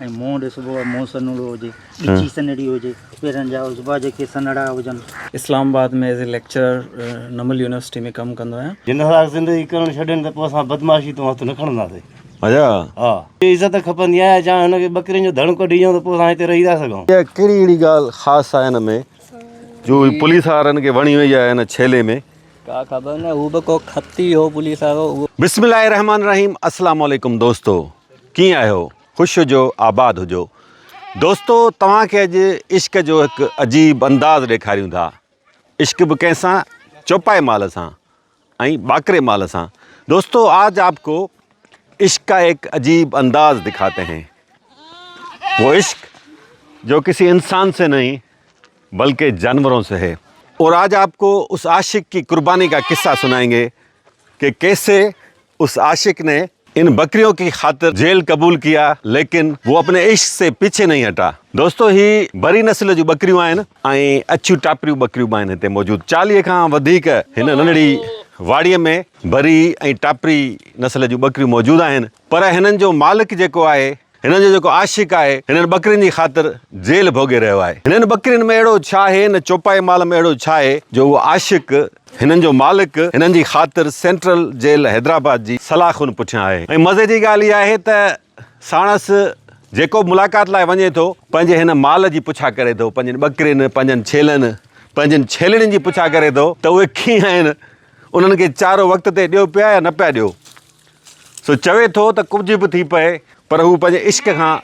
۽ منهن ڏسبو آهي منهن سنهڙو هجي، ڳچي سنهڙي هجي، پيرن جا عضبا جيڪي سنهڙا هجن. Islamabad ۾ as a lecturer NUML university ۾ ڪم ڪندو آهيان. جي ناحق زندگي ڪرڻ ڇڏين ته پوء اسان بدمعاشي تون هٿ نه کڻنداسين. اچا. ها. جي عزت کپندي آهي جا هن کي ٻڪرين جو ڌڻ ڪڍي ڏيون ته پوء اسان هتي رهي ٿا سگهون. اها ڪهڙي اهڙي ڳالهه خاص آهي هن ۾ جو هي پوليس وارن کي وڻي وئي آهي هن ڇيلي ۾. ڪا خبر نه هو به ڪو خط ئي هو پوليس وارو اهو. بسم الله الرحمن الرحيم اسلام عليڪم دوستو. ڪيئن آهيو؟ خوش هجو آباد هجو. دوستو توهان کي اڄ عشق جو هڪ عجيب انداز ڏيکاريون ٿا. عشق به ڪنهن سان چوپائي مال سان ۽ ٻاڪري مال سان. دوستو آج آپ ڪو عشق ڪا ايڪ عجيب انداز دکاتي هين. وو عشق جو ڪسي انسان سي نهين بلڪه جانورون سي هي. اور آج آپ ڪو اس عاشق ڪي قرباني ڪا قصه سنائينگي ڪي ڪيسي. اس عاشق ني ان بڪريون ڪي خاطر جيل قبول ڪيا ليڪن وو اپني عشق سي پيڇي نهين هٽا دوستو هي بري نسل جون ٻڪريون آهن ۽ اڇيون ٽاپريون ٻڪريون به آهن هتي موجود چاليهه کان وڌيڪ هن ننڍڙي واڙي ۾ بري ۽ ٽاپري نسل جون ٻڪريون موجود آهن پر هنن جو مالڪ جيڪو آهي هنن جو جيڪو عاشق آهي، هنن ٻڪرين جي خاطر جيل ڀوڳي رهيو آهي. هنن ٻڪرين ۾ اهڙو ڇا آهي، هن چوپائي مال ۾ اهڙو ڇا آهي جو اهو عاشق، هنن جو مالڪ، هنن جي خاطر سينٽرل جيل حيدرآباد جي سلاء خون پٺيان آهي ۽ مزي جي ڳالهه اها آهي ته ساڻس جيڪو به ملاقات لاء وڃي ٿو، پنهنجي هن مال جي پڇا ڪري ٿو، پنهنجين ٻڪرين، پنهنجن ڇيلن، پنهنجين ڇيلڙين جي پڇا ڪري ٿو ته اهي ڪيئن آهن، انهن کي چارو وقت تي ڏيو پيا يا نه پيا ڏيو. سو چوي ٿو ته ڪجهه به ٿي پئي پر هو پنهنجي عشق کان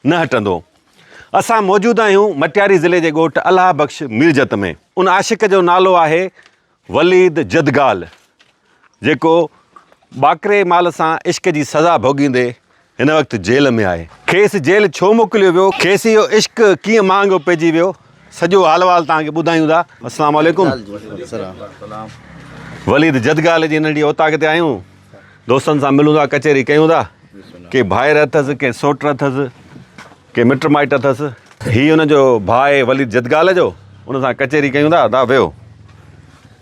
نه هٽندو. اسان موجود آهيون مٽياري ضلعي جي ڳوٺ الله بخش ميرجت ۾ ان عاشق جو نالو آهي وليد جدگال جيڪو ٻاڪري مال سان عشق جي سزا ڀوڳيندي هن وقت جيل ۾ آهي. کيس جيل ڇو موڪليو ويو، کيس اهو عشق ڪيئن مهانگو پئجي ويو سڄو حال وحال توهان کي ٻڌايون ٿا. السلام عليڪم وليد جدگال جي ننڍي اوطاق تي آهيون دوستن سان ملون ٿا ڪچهري ڪيون ٿا ڪي ڀائر اٿس ڪي سوٽ اٿس ڪي مٽ مائٽ اٿس هي ان جو ڀاء وليد جدگال جو ان سان ڪچهري ڪيون ٿا دا ويو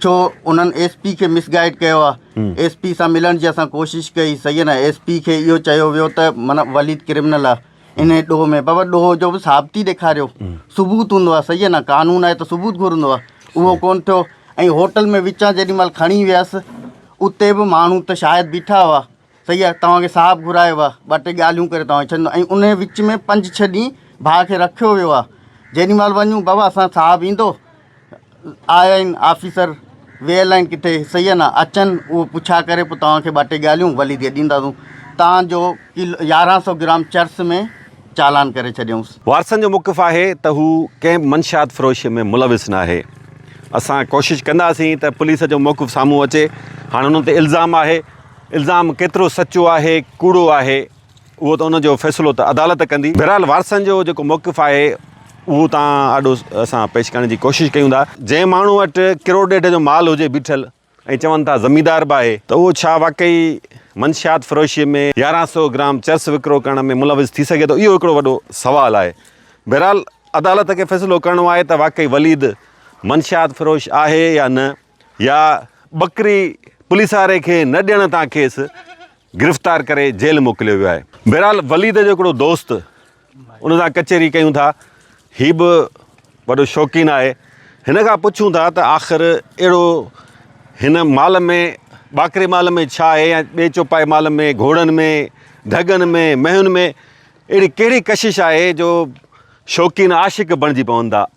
ڇو انهن ايس پي کي مس گائيڊ ڪيو آهي ايس پي سان ملڻ جي اسان ڪوشش ڪئي صحيح آهي نه ايس پي کي اهو چيو ويو ته من وليد ڪرمنل آهي ان ڏوهه ۾ بابا ڏوهه جو به ثابتي ڏيکاريو ثبوت هوندو آهي صحيح آهي نه قانون آهي ته ثبوت گهرندو آهي اهو ڪون ٿيو ۽ هوٽل ۾ وچان جيڏي مهل کڻي ويس اتي به ماڻهو ته شايد بيٺا هئا صحيح آ توهان کي صاحب گهرايو آ ٻه ٽي ڳالهيون ڪري توهان کي ڇڏيندو ۽ انهي وچ ۾ پنج ڇهه ڏينهن ڀاء کي رکيو ويو آ جيڏي مهل وڃون بابا اسان صاحب ايندو آيا آهن آفيسر ويل آهن ڪٿي صحيح آ نه اچن اهو پڇا ڪري پوء توهان کي ٻه ٽي ڳالهيون ولي دي ڏينداسون توهان جو ڪلو يارهن سو گرام چرس ۾ چالان ڪري ڇڏيائونس. وارثن جو موقف آهي ته هو ڪنهن به منشيات فروشي ۾ ملوث ناهي اسان ڪوشش ڪنداسين ته پوليس جو موقف سامهون اچي هاڻ انهن تي الزام آهي الزام ڪيترو سچو آهي ڪوڙو آهي اهو ته ان جو فيصلو ته عدالت ڪندي. بهرحال وارثن جو جيڪو موقف آهي اهو توهان آڏو اسان پيش ڪرڻ جي ڪوشش ڪيون ٿا. جنهن ماڻهو وٽ ڪروڙ ڏيڍ جو مال هجي بيٺل ۽ چون ٿا زميندار به آهي ته اهو ڇا واقعي منشيات فروشيء ۾ يارهن سئو گرام چرس وڪرو ڪرڻ ۾ ملوث ٿي سگهي ٿو اهو هڪڙو وڏو سوال آهي. بهرحال عدالت کي فيصلو ڪرڻو آهي ته واقعي وليد منشيات فروش آهي يا نه. يا ٻڪري پوليس واري کي نه ڏيڻ تان کيس گرفتار ڪري جيل موڪليو ويو آهي. بهرحال وليد جو هڪڙو دوست ان سان ڪچهري ڪيون ٿا، هي به وڏو شوقين آهي، هن کان پڇون ٿا ته آخر اهڙو هن مال ۾ ٻاڪري مال ۾ ڇا آهي يا ٻئي چوپائي مال ۾ گهوڙن ۾ ڍڳن ۾ مينهن ۾ اهڙي ڪهڙي ڪشش آهي جو شوقين عاشق بڻجي پون ٿا.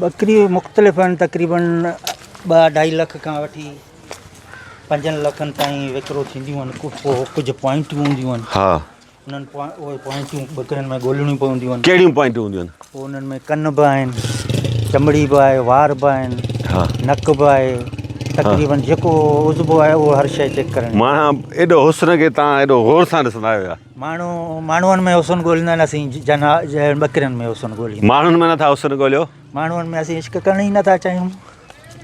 ٻڪري مختلف آهن تقريبن ٻه اڍائي لک کان وٺي پنجن لکن تائين وڪرو ٿينديون آهن پوء ڪجهه پوائنٽون هونديون آهن ها انهن اهي پوائنٽون ٻڪرين ۾ ڳولهڻيون پونديون آهن ڪهڙيون پوائنٽون هونديون آهن پوء انهن ۾ ڪن به آهن چمڙي به آهي وار به آهن ها نڪ به آهي تقريبن جيڪو عضبو آهي اهو هر شيء چيڪ ڪرڻي ماڻها ايڏو حسن کي تان ايڏو غور سان ڏسندا آهيو يا ماڻهو ماڻهن ۾ حسن ڳوليندا آهن اسين جنها جهڙن ٻڪرين ۾ حسن ڳوليون. ماڻهن ۾ نٿا حسن ڳوليو. ماڻهن ۾ اسين عشق ڪرڻ ئي نٿا چاهيون.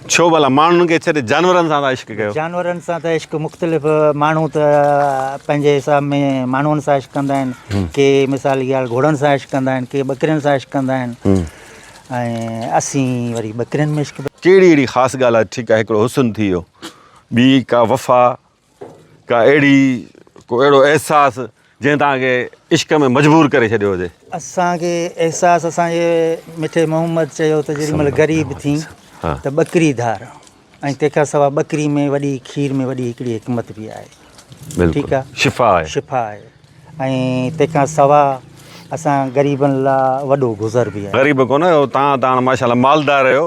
ڇو ڀلا ماڻهن کي ڇڏي جانورن سان ٿا عشق ڪيو. جانورن سان ته عشق مختلف ماڻهو ته پنهنجي حساب ۾ ماڻهن سان عشق ڪندا آهن ڪي مثال جي ڳالهه گهوڙن سان عشق ڪندا آهن ڪي ٻڪرين سان عشق ڪندا آهن ۽ اسين وري ٻڪرين ۾ عشق. ڪهڙي اهڙي خاص ڳالهه آهي ٺيڪ آهي هڪڙو حسن ٿي ويو ٻي ڪا وفا ڪا اهڙي ڪو اهڙو احساس جنهن توهان کي عشق ۾ مجبور ڪري ڇڏيو هجي. اسان کي احساس اسان جي مٺي محمد چيو ته جيڏي مهل غريب ٿين ته ٻڪري ڌار ۽ تنهن کان سواء ٻڪري ۾ وڏي کير ۾ وڏي هڪڙي حڪمت به آهي ٺيڪ آهي شفا آهي شفا آهي ۽ تنهن کان سواء اسان غريبن لا وڏو گذر به آهي غريب ڪونه آهيو تان تان ماشاءالله مالدار آهيو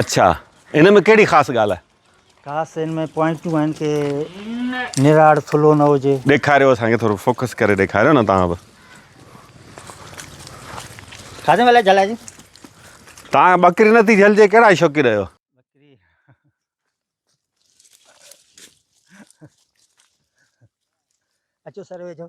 اڇا ان ۾ ڪهڙي خاص ڳالهه آهي. خاص ان ۾ پوائنٽون آهن ڪي نراڙ ٿلهو نه هجي. ڏيکاريو اسان کي ٿورو فوڪس ڪري ڏيکاريو نه توهان به. کاڌي ملائي جھلائي جي. توهان ٻڪري نه ٿي جھلجي ڪهڙا شوقين آهيو. اچو سر ويجھو.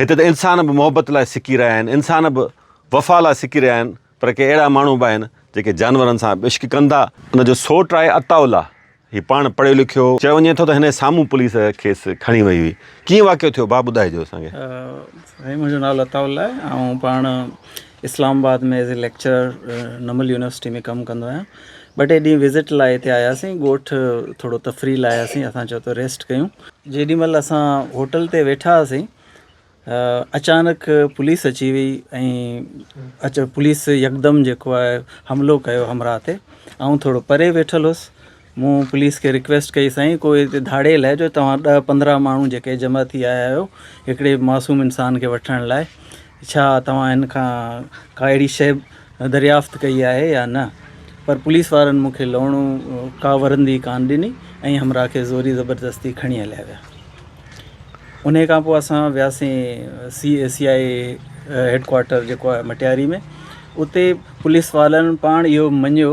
هتي ته انسان به محبت لاء سڪي رهيا آهن، انسان به وفا لاء سڪي رهيا آهن، پر ڪي اهڙا ماڻهو به آهن، جيڪي جانورن سان به عشق ڪن ٿا. ان جو سوٽ آهي عطاء الله، هي پاڻ پڙهيو لکيو هو. چيو وڃي ٿو ته هن سامهون پوليس کيس کڻي وئي هئي. ڪيئن واقعو ٿيو ڀاء ٻڌائجو اسان کي. سائين منهنجو نالو عطاء الله آهي آئون پاڻ Islamabad ۾ as a lecturer NUML university ۾ ڪم ڪندو آهيان ٻه ٽي ڏينهن وزٽ لاء هتي آياسين ڳوٺ ٿورو تفريح لاء آياسين اسان چيو ته ريسٽ ڪيون جيڏي مهل اسان هوٽل تي ويٺا هئاسين اچانڪ پوليس اچي وئي ۽ پوليس يڪدم جيڪو آهي حملو ڪيو همراهه تي آئون ٿورو پري ويٺل هوس مون پوليس کي رڪويسٽ ڪئي سائين ڪو هتي ڌاڙيل آهي جو توهان ڏهه پندرهن ماڻهو جيڪي جمع ٿي آيا آهيو هڪڙي معصوم انسان کي وٺڻ لاء ڇا توهان هن کان ڪا اهڙي شئي دريافت ڪئي آهي يا نه پر پوليس وارن مون کي لهڻو ڪا ورندي ڪانه ڏني ۽ همراهه کي زوري زبردستي کڻي هليا ويا انهي کان پوء اسان وياسين C A C I A headquarter جيڪو آهي مٽياري ۾ اتي پوليس وارن پاڻ اهو مڃيو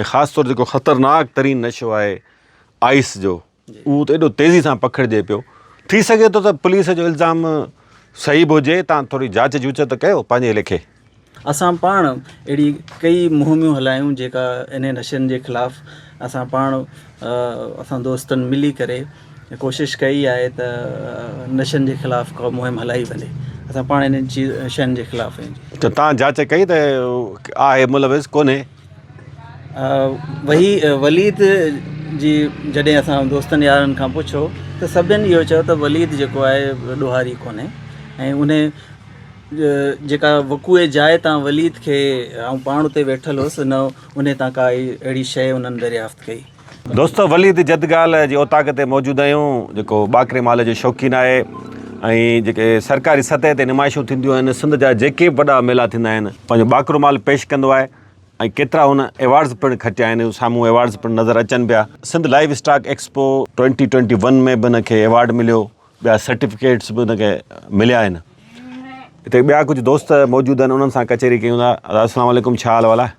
۽ خاص طور جيڪو خطرناڪ ترين نشو آهي آئيس جو اهو ته ايڏو تيزي سان پکڙجي پيو ٿي سگهي ٿو ته پوليس جو الزام صحيح به هجي تان ٿوري جاچ جوچ ته ڪيو پنهنجي ليکي. اسان پاڻ اهڙي ڪئي مهميون هلايون جيڪا انهي نشن جي خلاف اسان پاڻ اسان دوستن ملي ڪري ڪوشش ڪئي آهي ته نشن جي خلاف ڪا مهم هلائي وڃي اسان پاڻ انهن چيز شين جي خلاف آهيون ته تان جاچ ڪئي ته آهي ملوث ڪونهي. وهي وليد جي جڏهن اسان دوستن يارن کان پڇو ته سڀني اهو چيو ته وليد جيڪو آهي ڏوهاري ڪونهي ۽ ان جيڪا وقوع جاء تان وليد کي آئون پاڻ اتي ويٺل هوس ان ان تان ڪائي اهڙي شيء انهن دريافت ڪئي دوستو وليد جدگال جي اوطاق تي موجود آهيون جيڪو ٻاڪري مال جو شوقين آهي ۽ جيڪي سرڪاري سطح تي نمائشون ٿينديون آهن سنڌ جا جيڪي به وڏا ميلا ٿيندا آهن پنهنجو ٻاڪرو مال پيش ڪندو آهي ۽ ڪيترا هن ايوارڊز پڻ کٽيا آهن سامهون ايوارڊز پڻ نظر اچن پيا Sindh livestock expo twenty twenty one ۾ به هن کي ايوارڊ مليو ٻيا سرٽيفڪيٽس به هن کي مليا آهن هتي ٻيا ڪجهه دوست موجود آهن انهن سان ڪچهري ڪيون ٿا السلام عليڪم ڇا حال وال آهي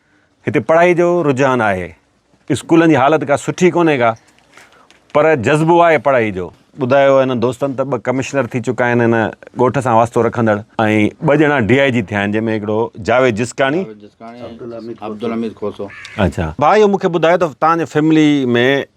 هتي پڙهائي جو رجحان آهي اسڪولن جي حالت ڪا سٺي ڪونهي ڪا پر جذبو آهي پڙهائي جو. ٻڌايو هن دوستن ته ٻه ڪمشنر ٿي چڪا آهن هن ڳوٺ سان واسطو رکندڙ ۽ ٻه ڄڻا ڊي آء جي ٿيا آهن جنهن ۾ هڪڙو جاويد جسڪاڻي ۽ عبدالحميد کوسو. اچا ڀاء اهو مون کي ٻڌايو ته تهان جي فيملي ۾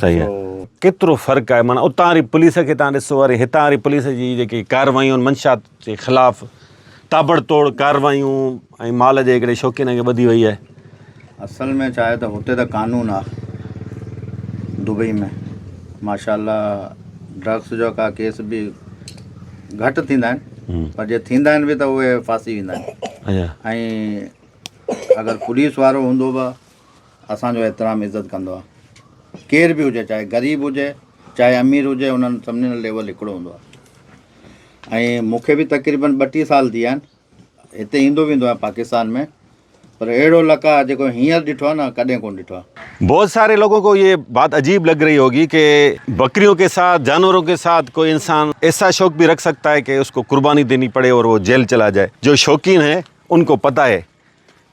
صحيح آهي ڪيترو فرق آهي معنيٰ اتان واري پوليس کي تان ڏسو وري هتان واري پوليس جي جيڪي ڪارروايون آهن منشات جي خلاف تابڙ توڙ ڪارروايون ۽ مال جي هڪڙي شوقين کي ٻڌي وئي آهي اصل ۾ چاهي ته هتي ته قانون آ دبئي ۾ ماشاء الله ڊرگس جو ڪا ڪيس به گهٽ ٿيندا آهن پر جي ٿيندا آهن به ته اهي ڦاسي ويندا آهن اچھا ۽ اگر پوليس وارو هوندو به اسان جو احترام عزت ڪندو آ ڪير به هجي چاهي غريب هجي چاهي امير هجي انهن سڀني جو ليول هڪڙو هوندو آ ۽ مون کي به تقريبن ٻٽيهه سال ٿي ويا آهن هتي ايندو ويندو آهيان پاڪستان ۾ پر اهڙو لڪ آ جيڪو هينئر ڏٺو آ نه ڪڏهن ڪون ڏٺو آ. بهت ساري لوگون ڪو يي بات عجيب لگ رهي هوگي ڪي بڪريون ڪي ساٿ جانورون ڪي ساٿ ڪوئي انسان ايسا شوق بهي رک سکتا هي ڪي اسڪو قرباني ديني پڙي اور وو جيل چلا جائي جو شوقين هي انڪو پتا هي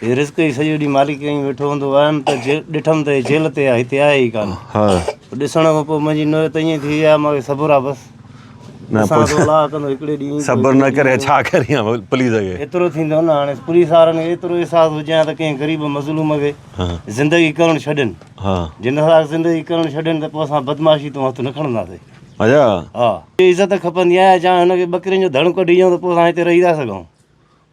هي رزق ئي سڄو ڏينهن مالڪ ڪيائين ۾ ويٺو هوندو آيم ته ڏٺم ته هي جيل تي آهي هتي آهي ئي ڪانه ها ڏسڻ کان پوء منهنجي نوعيت ائين ٿي وئي آهي مان کي صبر آهي بس نه ڏسان ٿو الله ڪندو هڪڙي ڏينهن صبر نه ڪري ڇا ڪريان پوليس کي ايترو ٿيندو نه هاڻي پوليس وارن کي ايترو احساس هجي ها ته ڪنهن غريب مظلوم کي زندگي ڪرڻ ڇڏين ها جن اسان زندگي ڪرڻ ڇڏين ته پوء اسان بدمعاشي تون هٿ نه کڻنداسين اچا ها عزت کپندي آهي جا هن کي ٻڪرين جو ڌڻ ڪڍي ڏيون ته پوء اسان هتي رهي ٿا سگهون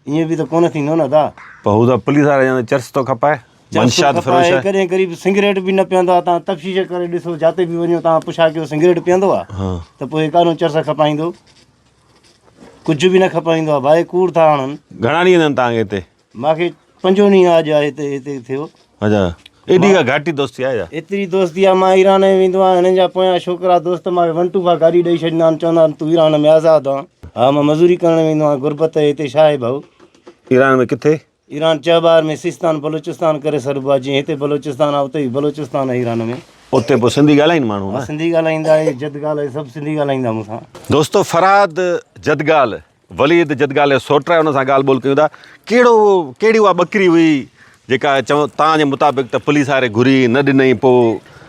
ائين به ته ڪونه ٿيندو نه ادا. پر هو ته پوليس وارا چوندا چرس ٿو کپائي، منشيات فروش آهي. ڪڏهن قريب سگريٽ به نه پيئندو آهي، توهان تفتيش ڪري ڏسو جاتي به وڃو توهان پڇا ڪيو سگريٽ پيئندو آهي ته پوء ڪانو چرس کپائيندو، ڪجهه به نه کپائيندو آهي، ڀائي ڪوڙ ٿا هڻن. گهڻا ڏينهن ٿيا آهن توهان کي هتي؟ مانکي پنجون ڏينهن اڄ آهي هتي ٿيو. اچا ايڏي ڪا گهاٽي دوستي آهي ڇا؟ ايتري دوستي آهي مان ايران ۾ ويندو آهيان هنن جا پويان ڇوڪرا دوست مانکي ون ٽو فائو گاڏي ڏئي ڇڏيندا آهن چوندا آهن تون ايران ۾ آزاد آن ها مان مزوري ڪرڻ ويندو آهيان غربت آهي هتي ڇا آهي ڀائو. ايران ۾ ڪٿي؟ ايران چهبار ۾ سيستان بلوچستان ڪري سڏبو آهي جيئن هتي بلوچستان آهي اتي به بلوچستان آهي ايران ۾. اتي پوء سنڌي ڳالهائين ماڻهو ها؟ سنڌي ڳالهائيندا اهي جدگال اهي سڀ سنڌي ڳالهائيندا مون سان. دوستو فرهاد جدگال وليد، جدگالي سوٽرائي ان سان ڳالهه ٻولهه ڪيون ٿا، ڪهڙو هو، ڪهڙي اها ٻڪري هئي، جيڪا چون تان جي مطابق ته پوليس هاري گهري نه ڏنئي پو.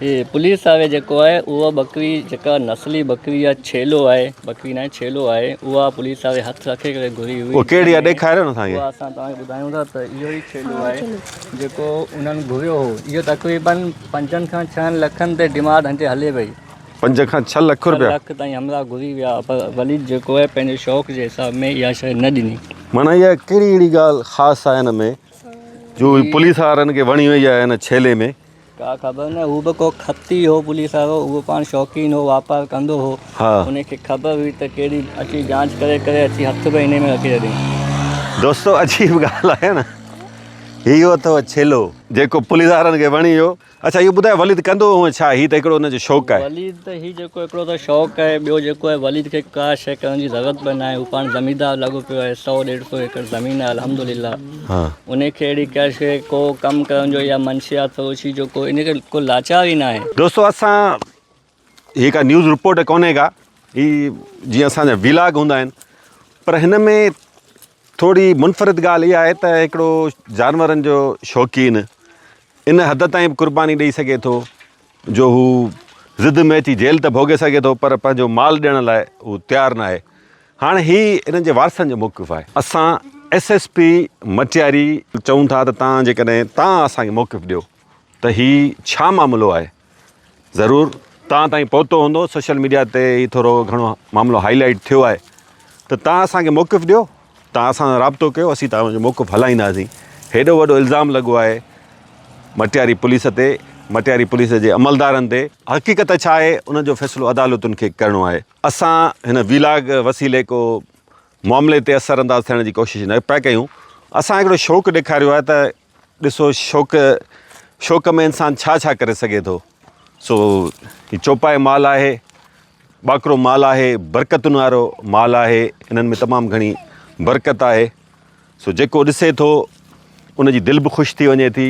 هي پوليس هاري جيڪو آهي، اها ٻڪري جيڪا نسلي ٻڪري يا ڇيلو آهي، ٻڪري ناهي ڇيلو آهي، اها پوليس هاري هٿ رکي ڪري گهري هئي. اها ڪهڙي آهي ڏيکاريو نه اسان کي. اها اسان توهان کي ٻڌايون ٿا ته اهو ئي ڇيلو آهي جيڪو انهن گهريو هو. اهو تقريبن پنجن کان ڇهن لکن تي ڊيمانڊ هتي هلي پئي. پنج کان ڇهه لک رپيا. ڇهه لک تائين همراهه گهري ويا پر وليد جيڪو آهي پنهنجي شوق جي حساب ۾ اها شيء نه ڏني. معنيٰ اها ڪهڙي اهڙي ڳالهه خاص آهي ان ۾ جو پوليس وارن کي وڻي وئي آهي ان ڇيلي ۾. ڪا خبر نه هو به ڪو خط ئي هو پوليس وارو اهو پاڻ شوقين هو واپار ڪندو هو ان کي خبر هئي ته ڪهڙي اچي جانچ ڪري ڪري اچي هٿ به انهي ۾ رکي ڇڏيائين. دوستو عجيب ڳالهه آهي نه هي اهو اٿو ڇيلو جيڪو پوليس وارن کي وڻي ويو. اڇا اهو ٻڌاء وليد ڪندو هونء ڇا؟ هي ته هڪڙو ان جو شوق آهي. وليد ته هي جيڪو هڪڙو ته شوق آهي ٻيو جيڪو آهي وليد کي ڪا شيء ڪرڻ جي ضرورت به ناهي هو پاڻ زميندار لڳو پيو آهي سؤ ڏيڍ سؤ ايڪڙ زمين آهي الحمد لله ان کي اهڙي ڪا شيء ڪو ڪم ڪرڻ جو يا منشيات فروشي جو ڪو ان کي ڪو لاچار ئي ناهي. دوستو اسان هي ڪا نيوز رپورٽ ڪونهي ڪا هي جيئن اسان جا ويلاگ هوندا آهن پر هن ۾ ٿوري منفرد ڳالهه اها آهي ته هڪڙو جانورن جو شوقين ان حد تائين به قرباني ڏئي سگهي ٿو جو هو ضد ۾ اچي جيل ته ڀوڳي سگهي ٿو پر پنهنجو مال ڏيڻ لاء هو تيار ناهي هاڻي هي انهن جي وارثن جو موقف آهي اسان ايس ايس پي مٽياري چئون ٿا ته تان جيڪڏهن تان اسان کي موقف ڏيو ته هي ڇا معاملو آهي. ضرور توهان تائين پهتو هوندو سوشل ميڊيا تي هي ٿورو گهڻو معاملو هائي لائيٽ ٿيو آهي ته توهان اسان کي موقف ڏيو توهان اسان سان رابطو ڪيو اسين توهان جو موقف هلائينداسين هيڏو وڏو الزام لڳو آهي مٽياري پوليس تي مٽياري پوليس جي عملدارن تي حقيقت ڇا آهي ان جو فيصلو عدالتن کي ڪرڻو آهي اسان هن ويلاگ وسيلي ڪو معاملي تي اثر انداز ٿيڻ جي ڪوشش نه پيا ڪيون اسان هڪڙو شوق ڏيکاريو آهي ته ڏسو شوق شوق ۾ انسان ڇا ڇا ڪري سگهي ٿو سو هي چوپائي مال آهي ٻاڪرو مال آهي برڪتن وارو مال آهي انهن ۾ تمام گهڻي برڪت آهي سو جيڪو ڏسي ٿو ان جي دل به خوش ٿي وڃي ٿي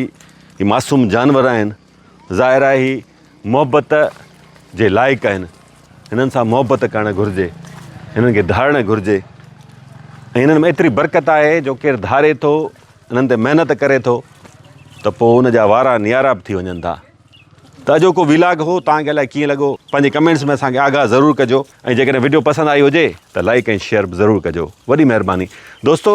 هي معصوم جانور آهن ظاهر آهي هي محبت جي لائق آهن هنن سان محبت ڪرڻ گهرجي هنن کي ڌارڻ گهرجي ۽ هنن ۾ ايتري برڪت آهي جو ڪير ڌاري ٿو هنن تي محنت ڪري ٿو ته پوء ان جا وارا نيارا به ٿي وڃن ٿا ته اڄوڪو ويلاگ هو تان کي الائي ڪيئن لڳو پنهنجي ڪمينٽس ۾ اسان کي آگاهه ضرور ڪجو ۽ جيڪڏهن وڊيو پسند آئي هجي ته لائڪ ۽ شيئر به ضرور ڪجو وڏي مهرباني دوستو